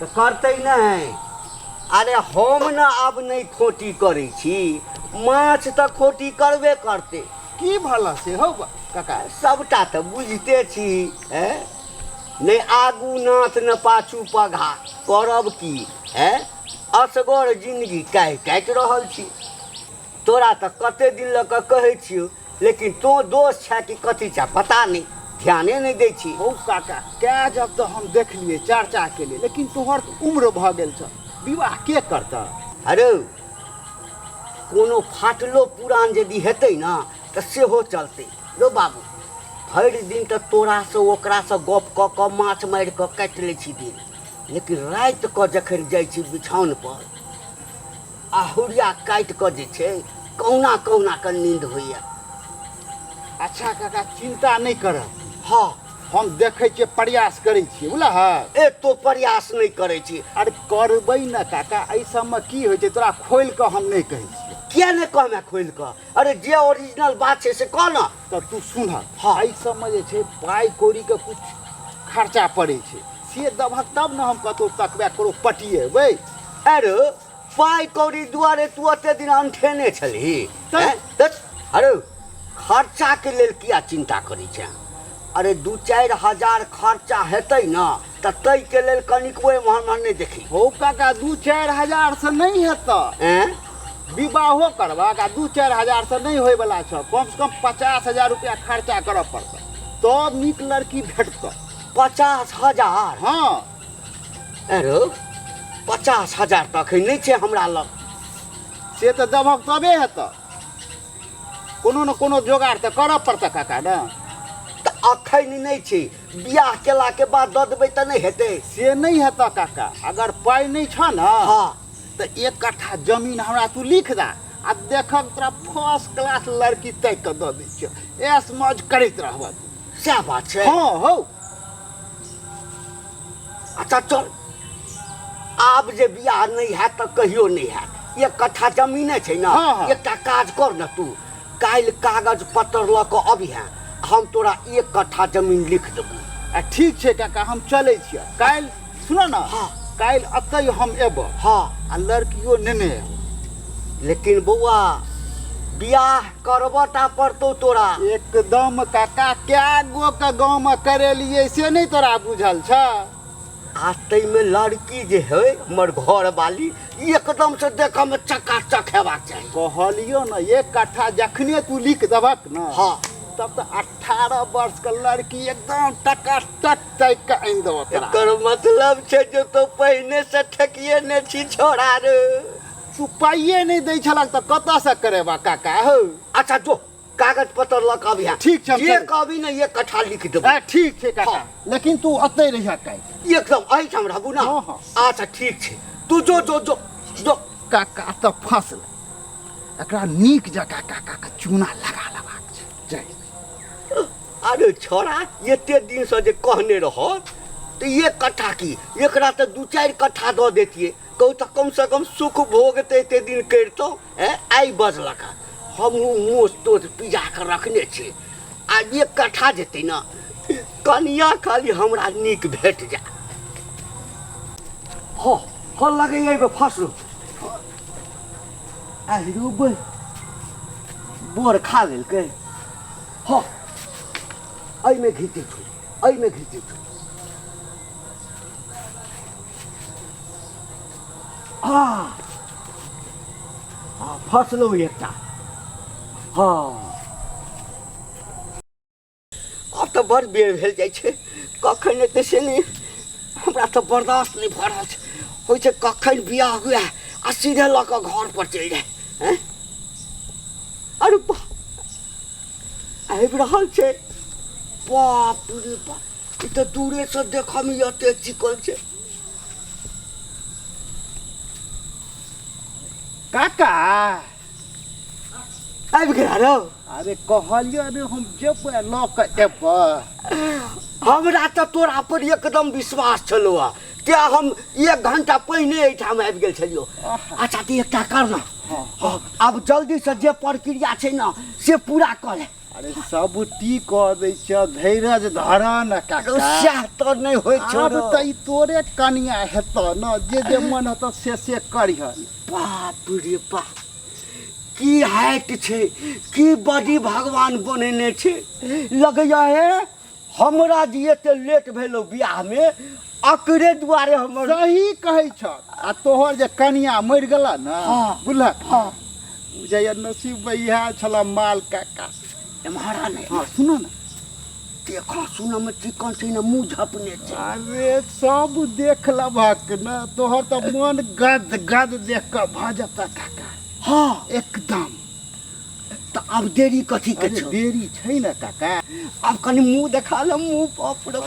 तऽ करतै नहि अरे हम ने आब नहि खोटी करै छी माछ तऽ खोटी करबे करतै की भला से हौ काका सभटा तऽ बुझिते छी ए नहि आगू नाथ ने पाछू पघा करब की ए असगर जिन्दगी काटि काटि रहल छी तोरा तँ कते दिन लऽ कऽ कहै छियौ, लेकिन तों दोस छेँ कि कथी छेँ पता नै, ध्याने नै दै छी। हौ काका, कए जग तँ हम देखलियै, चर्चा केलियै, लेकिन तोहर तँ उम्र भऽ गेल छह, विवाह के करतह? हरौ, कोनो फाटलो पुरान जदि हेतै ने तँ सेहो चलतै। रौ बाबू, भरि दिन तँ तोरासँ ओकरासँ गप कऽ कऽ माछ मारि कऽ काटि लै छी दिन, लेकिन राति कऽ जखन जाइ छी बिछाओनपर, आ हुरिया काटि कऽ जे छै कहुना कहुना कऽ नींद होइए अच्छा काका चिन्ता नहि करऽ हँ हम देखै छियै प्रयास करै छियै बुझलह ए तो प्रयास नहि करै छी अरे करबै ने काका एहि सबमे की होइ छै तोरा खोलि कऽ हम नहि कहै छियै किया नहि कहमे खोलि कऽ अरे जे ओरिजिनल बात छै से कह ने तऽ तू सुनह हँ। एहि सबमे जे छै पाइ कौड़ीके किछु खर्चा पड़ै छै से देबहक तब ने हम कतहु तकबे करो पटिएबै अरे पाइ कौड़ी दुआरे तू एते दिन अंठेने छलही हैं? दस, अरे खर्चाके लेल किया चिन्ता करै छै अरे दू चारि हजार खर्चा हेतै ने तऽ तै के लेल कनिकबो एम्हर एम्हर नहि देखी हौ काका दू चारि हजार से नहि हेतऽ एँ विवाहो करबाक आ दू चारि हजार से नहि होयवला छऽ कम से कम पचास हजार रुपया खर्चा करऽ पड़तऽ तब नीक लड़की भेटतऽ पचास हजार हँ एँ रौ पचास हजार तऽ अखन नहि छै हमरा लग से तऽ देबहक तबे हेतऽ कोनो ने कोनो जोगाड़ तऽ करऽ पड़तऽ काका ने तऽ अखन नहि छै बियाह केला के बाद दऽ देबै तऽ नहि हेतै से नहि हेतऽ काका अगर पाइ नहि छऽ ने हँ तऽ एक कट्ठा जमीन हमरा तू लिख दए आ देखब तोरा फर्स्ट क्लास लड़की तैक कऽ दऽ दै छियौ ऐस मौज करैत रहबऽ तू सएह बात छै हँ हौ अच्छा चल आब जे बियाह नहि हैत तऽ कहियो नहि हैत एक कट्ठा जमीने छै ने हँ, हँ। एकटा काज कर ने तू काल्हि कागज पत्तर लऽ कऽ अबिहे हम तोरा एक कट्ठा जमीन लिख देबू ठीक छै काका हम चलै छियै काल्हि सुनऽ ने हँ। काल्हि एतै हम एबऽ हँ आ लड़कियो नेने एबऽ लेकिन बौआ बियाह करबऽ टा पड़तौ तोरा एकदम काका कए गो के गाँव में करेलियै से नहि तोरा बुझल छ आ ताहिमे लड़की जे है हमर घर वाली एकदम से देखऽ में चकाचक हेबाक चाही कहलियो ने एक कट्ठा जखने तू लिख देबक ने हाँ तब तऽ अठारह वर्ष के लड़की एकदम टकाटक तैक के आनि देबो तोरा एकर मतलब छै जे तो पहिने से ठेकिए ने छी छोड़ा रे तू पाइए नहि दै छलक तऽ कतऽ से करेबा काका हौ अच्छा जो कागज पत्र लऽ कऽ अबिहा ठीक छै, हम जे चलू। कहबी ने एक कट्ठा लिख देबो आ, ठीक छै काका हाँ। लेकिन तू अतै रहिया काल्हि एकदम एहिठाम रहबू ने हाँ, हाँ। अच्छा ठीक छै तू जो जो जो जो काका तऽ फँसल एकरा नीक जकाँ काकाके चूना लगा लेबाक छै जाइ छी। अरे छोरा एते दिन से जे कहने रह तऽ एक कट्ठा की एकरा तऽ दू चारि कट्ठा दऽ देतियै कहू तऽ कमसँ कम सुख भोग तऽ एते दिन करितहुँ एँ आइ बजलक हँ हमहूँ मोछ तोछ पिजा कऽ रखने छी आ एक कट्ठा जेतै ने कनिया खाली हमरा नीक भेट जाय हँ हँ लगैया एहिमे फसलू आहिरो बै बोर खा लेलकै हँ एहिमे घीचै छौ एहिमे घीचै छौ हँ हँ फसलहुँ एकटा हँ आब तऽ बड़ बेर भेल जाइ छै कखन एतै से नहि हमरा तऽ बर्दाश्त नहि भऽ रहल छै होइ छै कखन बियाह हुए आ सीधे लऽ कऽ घर पर चलि जाय हैं? अरे बा आबि रहल छै बाप रे बाप ई तऽ दूरे से देखऽ में एते चिकन छै काका आबि गेला रौ अरे कहलियो ने हम जेबै लऽ के एबै हमरा तऽ तोरा पर एकदम विश्वास छलौ आ तें हम एक घंटा पहिने एहिठाम आबि गेल छलियौ अच्छा तऽ एकटा कर ने हँ, आब जल्दी से जे प्रक्रिया छै ने से पूरा कर अरे सब ती कह दै छ धैर्य धर न काका सह तो नहीं होय छो अब त ई तोरे कनिया हेत न जे जे मन हेत से से करिह बाप रे बाप की हाइट छै की बॉडी भगवान बनेने छै लगैया हे हमरा जे एते लेट भेलौ बियाह में अकरे दुआरे हमर सही कहै छ आ तोहर जे कनिया मर गेला न हाँ। बुझलक हाँ। बुझैया नसीब में इहा छला माल काका एम्हरा ने हाँ सुनो न देखो सुनो में चिकन छै न मुंह झपने छै अरे सब देख लभक न तोहर त मन गद गद देख क भ जता काका हाँ एकदम तऽ आब देरी कथी के छौ देरी छै ना काका आब कनी मुंह देखा ले मुंह बाप रे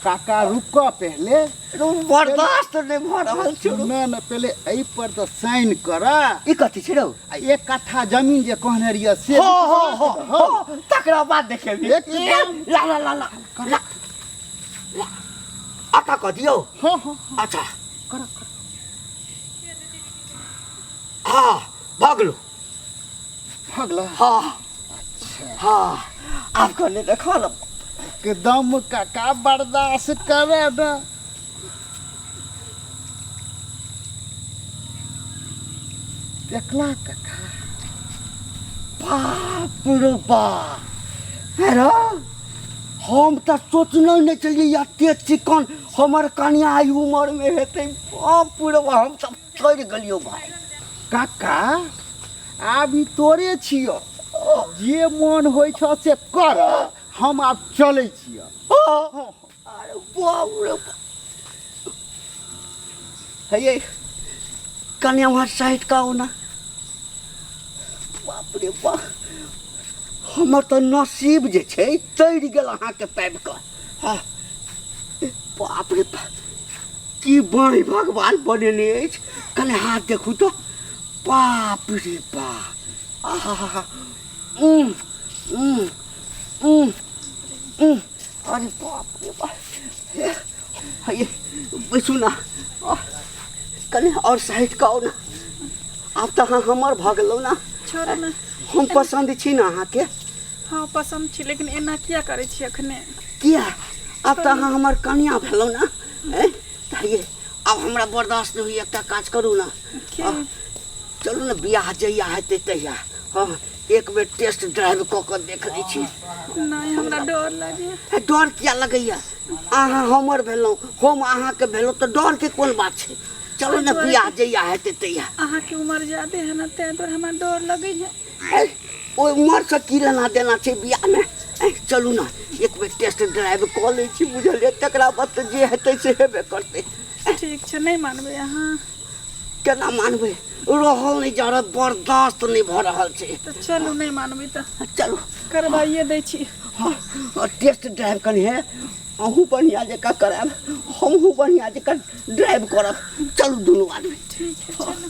काका रुक पहले रुक बर्दाश्त नै भ रहल छौ ना ना पहले ए पर त साइन कर ई कथी छै रौ एक कट्ठा जमीन जे कहने रिया से हो हो हो हो तकरा बाद देखेबी ला ला ला ला ला आता क दियो हो हो अच्छा कर कर हां भागलो भगला हाँ हाँ आप कहने देखो ना के दम का का बर्दाश्त करे ना देखला कका बाप रो बाप हेरो हम तऽ सोचने नहि छलियै एते चिकन हमर कनिया आइ उमर मे हेतै बाप रो बाप हम तऽ चढ़ि गेलियो भाय काका आब ई तोरे छियो जे मोन होइ छ से कर हम आब चलै छियो अरे बाबू रे हे कन्या वहाँ साइड का होना बाप रे बाप हमर तऽ नसीब जे छै तैर गेल अहाँके पाबि कऽ बाप रे बाप की बाई भगवान बनेने अछि कने हाथ देखू तो बाप रे बाप आहा उम उम उम उम अरे बाप रे बाप ये बैसू ना कने और साइड का ना आब तऽ अहाँ हमर भऽ गेलहुँ ना छोड़ू ना हम पसंद छी ना अहाँके हाँ पसंद छी लेकिन एना किया करै छी अखने किया आब तऽ अहाँ हमर कनिया भेलहुँ ना कहिए आब हमरा बर्दाश्त नहि होइए एकटा काज करू ने चलू ने बियाह जहिया हेतै तहिया हम एक बेर टेस्ट ड्राइव कऽ कऽ देख लै छी नहि हमरा डर लागैए डर किया लगैए अहाँ हमर भेलहुँ हम अहाँके भेलहुँ तऽ डरके कोन बात छै चलू ने बियाह जहिया हेतै तहिया अहाँके उम्र ज्यादे है ने ताहि दुआरे हमरा डर लगैए ए, ओहि उमर से की लेना देना छै बियाह में ए, चलू ना एक बेर टेस्ट ड्राइव कऽ लै छी बुझलियै तकरा बाद तऽ जे हेतै से हेबे करतै ठीक छै नहि मानबै अहाँ केना मानबै रहल नहि जा रहल बर्दाश्त नहि भऽ रहल छै तऽ चलू नहि मानबै तऽ चलू करबाइए दै छी हँ हँ, टेस्ट ड्राइव कनी है अहूँ बढ़िआँ जकाँ करायब हमहूँ बढ़िआँ जकाँ ड्राइव करब चलू दुनू आदमी ठीक छै चलू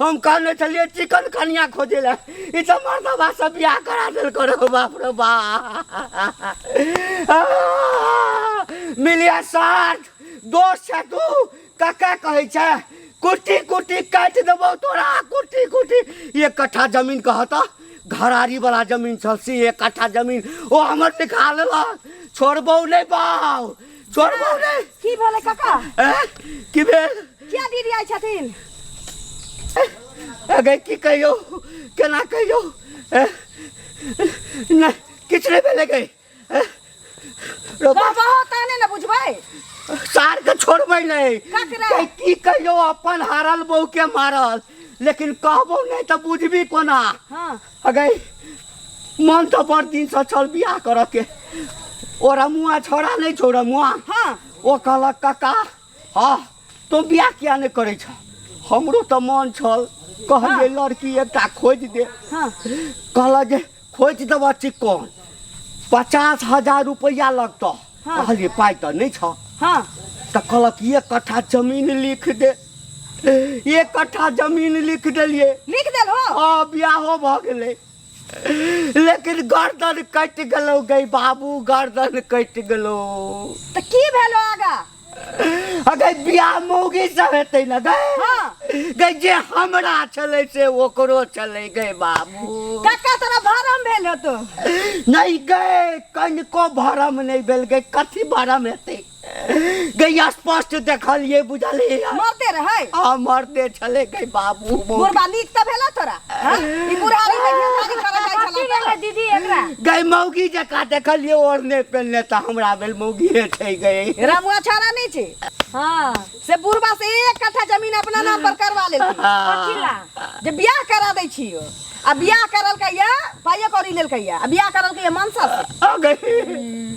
हम कहने छलियै चिकन कनिया खोजे ले ई तऽ मर्दबा से बियाह करा देल करो बाप रे बा मिलिया साठ दोस्त छै तू कका कहै छै कुट्टी कुट्टी काटि देबौ तोरा कुट्टी कुट्टी एक कट्ठा जमीन कह तऽ घरारी वाला जमीन छल से एक कट्ठा जमीन ओ हमर निकाल लेलक छोड़बौ नहि बाउ चोर बहू रे की भेलै काका ए, की भेल किया दीदी आइ छथिन अगे की कहियो केना कहियो ए, नहि किछु नहि भेलै गै ए, रौ बा- कहबहो तहने ने बुझबै सार के छोड़बै नहि ककरा? गै, की कहियो अपन हारल बहू के मारल लेकिन कहबो नहि तऽ बुझबी कोना हाँ अगै मन तो बड़ दिन से चल बियाह करऽ के ओरा मुआ छोड़ा नहीं छोड़ा मुआ हाँ ओ कहलक काका हाँ तो बियाह किया नहीं करे छ हमरो तो मन छल कहलिए लड़की एकटा खोज दे हाँ कहला जे खोज देबऽ चिकन पचास हजार रुपया लगतऽ हाँ। कहलिए पाइ तऽ नहि छऽ हाँ तऽ कहलक एक कट्ठा जमीन लिख दे एक कट्ठा जमीन लिख देलिए लिख देल हो हाँ बियाहो भ गेलै लेकिन गर्दन कटि गेलौ गई बाबू गर्दन कटि गेलौ तो की भेलो आगा अगर बियाह मौगी सब हेतै न गई हाँ। गई जे हमरा छलै से ओकरो छलै गई बाबू कक्का तोरा भरम भेल हो तो नहीं गए कनिको भरम नहीं भेल गए कथी भरम हेतै गैया स्पष्ट देखलिए बुझलिए मरते रहे आ मरते छले गई बाबू मौत। बुढ़बा नीक तऽ भेला तोरा हाँ? ई बुढ़ारी में ढेरधारी करऽ जाइ छला की भेलै दीदी एकरा गई मौगी जका देखलिए ओढ़ने पेलने तऽ हमरा भेल मौगी हेठे गई तऽ। रमुआ छोरा नहीं छी हाँ से बुढ़बा से एक कट्ठा जमीन अपना नाम पर करवा लेलकी पछिला जे बियाह करा दै छियो आ बियाह करल कहिया पाइयो कौड़ी लेल कहिया आ बियाह करल कहिया मनसा से आ गई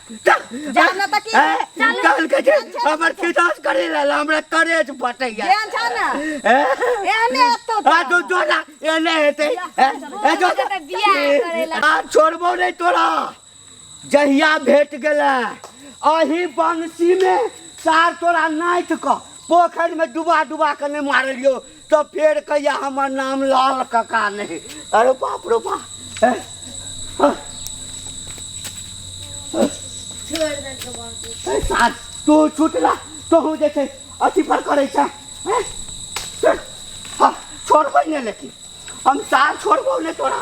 जान ना तक ए, काल के जे हमर खिदास करे ला ला, हमरा करेज बटैया ध्यान छ ना ए, एने तो आ तो जोला एने हेते ए, ए जो तो बियाह करेला। आ छोड़बो नहीं तोरा जहिया भेट गेला अही बंसी में सार तोरा नाइट क पोखरि में डुबा डुबा के ने मारलियो तऽ फेर कहिया हमर नाम लाल कका नहि अरे बाप रो बाप हैं? हँ। ए, साथ तू छूट ला तोहूँ जे छै अथी पर करै छै हैं? छोड़, हँ, छोड़बै नहि लेकिन हम सार छोड़बौ नहि तोरा